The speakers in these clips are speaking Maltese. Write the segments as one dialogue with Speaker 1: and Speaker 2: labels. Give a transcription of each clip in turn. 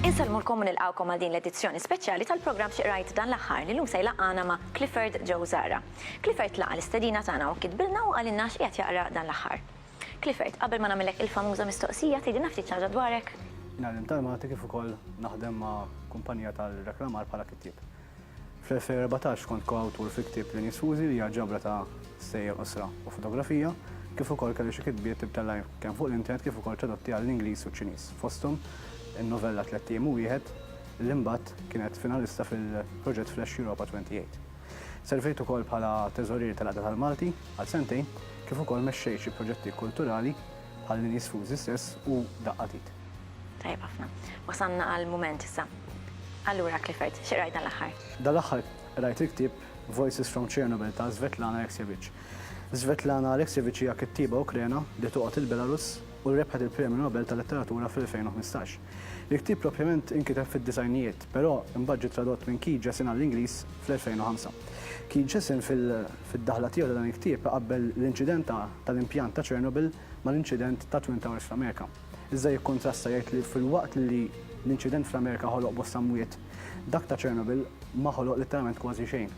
Speaker 1: Insellmulkom u nilqgħukom għal din l-edizzjoni speċjali tal-programm Xi Qrajt Dan l-Aħħar li llum se jlaqqagħna ma' Clifford Joe Zahra. Clifford laqa' l-istedina tagħna u kitbilna u qalilna x'qiegħed jaqra dan l-aħħar. Clifford, qabel ma nagħmillek il-famuża mistoqsija, tgħidilna ftit xi ħaġa dwarek? Ngħallem tal-Malti
Speaker 2: kif ukoll naħdem ma' kumpanija tal-reklamar bħala kittieb. Fl-2014 kont ko-awtur fi ktieb Linji Sfużi li hija ġabra ta' stejjer qosra u fotografija, kif ukoll kelli xi kitbiet ibtellgħin kemm fuq l-internet kif ukoll tradotti għall-Ingliż u ċ-Ċiniż, fosthom in-novella Tlett Ijiem u Wieħed li mbagħad kienet finalista fil-proġett Flash Europa 28. Servejt ukoll bħala Teżorier tal-Għaqda tal-Malti għal sentejn kif ukoll mexxejt xi proġetti kulturali bħal Lini Sfużi stess u Daqqa t'Id. Tajjeb ħafna.
Speaker 1: Wasalna għall-mument issa. Allura Clifford, xi qrajt dan l-aħħar? Dan l-aħħar
Speaker 2: qrajt il-ktieb Voices from Chernobyl ta' Svetlana Alexievich. Svetlana Alexievich hija kittieba Ukrena li toqgħod il-Belarus u rebħet il-Premju Nobel tal-Letteratura fl-2015. Il-ktieb propjament inkiteb fid-disgħinijiet, però imbagħad ġie tradott minn Keith Jessen għall-Ingliż fl-2005. Keith Jessen fid-daħla tiegħu ta' dan il-ktieb iqabbel l-inċident tal-impjant ta' Chernobyl mal-inċident tat-Twin Towers fl-Amerika. Iżda jikkontrasta jgħid li filwaqt li l-inċident fl-Amerika ħoloq bosta mwiet, dak ta' Chernobyl ma ħoloq litteralment kważi xejn.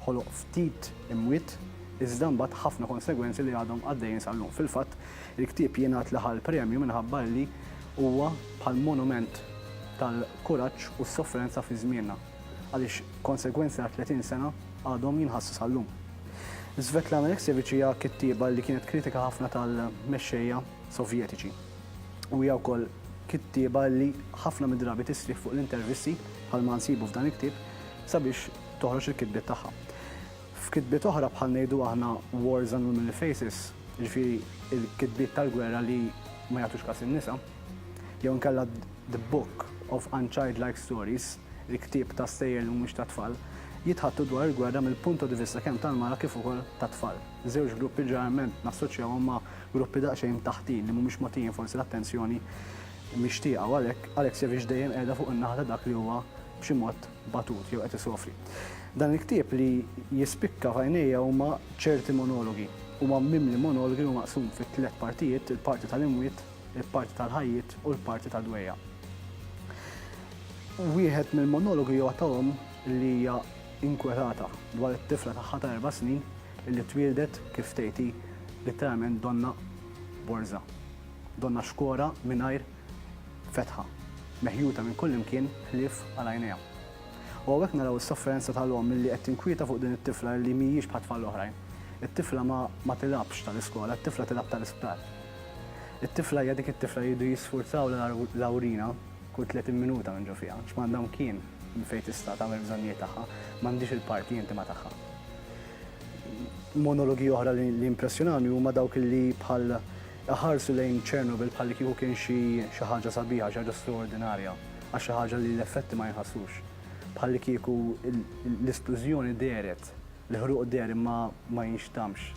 Speaker 2: Ħoloq ftit imwiet iżda mbagħad ħafna konsegwenzi li għadhom għaddejjin sal-lum. Fil-fatt, il-ktieb jingħad li ħa l-premju minħabba li Huwa bħal monument tal-kuraġġ u s-soffrenza fi żmienna, għaliex konsegwenzi ta' 30 sena għadhom jinħassu sal-lum. Svetlana Aleksijevich hija kittieba li kienet kritika ħafna tal-mexxejja Sovjetiċi. U hija wkoll kittieba li ħafna mid-drabi tistrieħ fuq l-intervisti, bħalma nsibu f'dan il-ktieb, sabiex toħroġ il-kitbiet tagħha. F'kitbiet oħra bħal ngħidu aħna wars and womanly faces, jiġifieri il-kitbiet tal-gwerra li ma jagħtux kas in-nisa, jew inkella The Book of Unchildlike Stories, Il-Ktieb ta' Stejjer li Mhumiex tat-Tfal, jitħaddtu dwar il-gwerra mill-punto di vista kemm tal-mara kif ukoll tat-tfal, żewġ gruppi li ġeneralment nassoċjawhom ma' gruppi daqsxejn taħtin li mhumiex mogħtijin forsi l-attenzjoni mixtieqa u għalhekk Alexievic dejjem qiegħda fuq in-naħa ta' dak li huwa b'xi mod batut jew qed isofri. Dan il-ktieb li jispikka f'għajnejja huma ċerti monologi. Huwa mimli monologi u maqsum fi tliet partijiet, il-parti tal-imwiet, il-parti tal-ħajjiet u l-parti tad-dwejjaq. Wieħed mill-monologi huwa ta' omm li hija inkwetata dwar it-tifla tagħha ta' erba' snin li twieldet kif tgħid hi, litteralment donna borża, donna xkora mingħajr fetħa, meħjuta minn kullimkien ħlief għal għajnejha. U hawnhekk naraw is-sofferenza tal-omm li qed tinkwieta fuq din it-tifla li mhijiex bħat-tfal l-oħrajn. It-tifla ma ma tilgħabx tal-iskola, it-tifla tilgħab tal-isptar. It-tifla hija dik it-tifla li jridu jisfurzawlha l-awrina kull 30 minuta minn ġo fiha, għax m'għandha mkien minn fejn tista' tagħmel bżonnijiet tagħha, m'għandhiex il-parti intima tagħha. Monologi oħra li impressjonawni huma dawk li bħal Iħarsu lejn Chernobyl bħal li kieku kien xi xi ħaġa sabiħa, xi ħaġa straordinarja, għax xi ħaġa li l-effetti ma jinħassux. Bħal li kieku l-isplużjoni dehret, l-ħruq deher imma ma jinxtammx,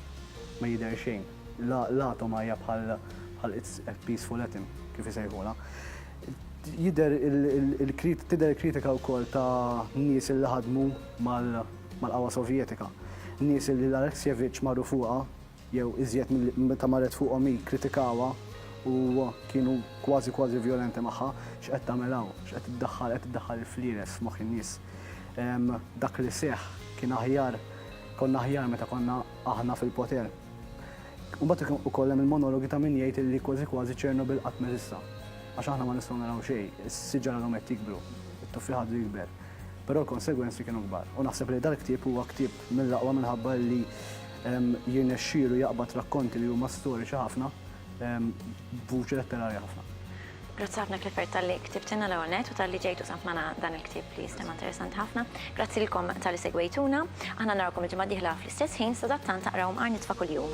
Speaker 2: ma jidher xejn. L-atoma hija bħal bħal it's a peaceful atom, kif isejħulha. Jidher il-krit, tidher il-kritika wkoll ta' nies li ħadmu mal-qawwa Sovjetika. Nies li l-Alexievich marru fuqha jew iżjed milli meta marret fuqhom hi, kkritikawha u kienu kważi kważi vjolenti magħha, x'qed tagħmel hawn, x'qed iddaħħal, qed iddaħħal il-flieles f'moħħ in-nies. Dak li seħħ kien aħjar, konna aħjar meta konna aħna fil-poter. Imbagħad ukoll hemm il-monologi ta' min jgħid li kważi kważi Chernobyl qatt m'eżista. Għax aħna ma nistgħu naraw xejn, is-siġar għadhom qed jikbru, it-tuffieħ għadu jikber. Però l-konsegwenzi kienu kbar. U naħseb li dal-ktieb huwa ktieb Mill-aqwa minħabba li jirnexxielu jaqbad rakkonti li huma storiċi ħafna b'vuċi letterarja ħafna. Grazzi ħafna
Speaker 1: Clifford talli ktibtilna l-ewwel net u talli ġejt u samt magħna dan il-ktieb li jistema' interessanti ħafna. Grazzi lilkom talli segwejtuna. Aħna narawkom il-ġimgħa d-dieħla fl-istess ħin, sadattant aqraw Mqar Nitfa' Kuljum.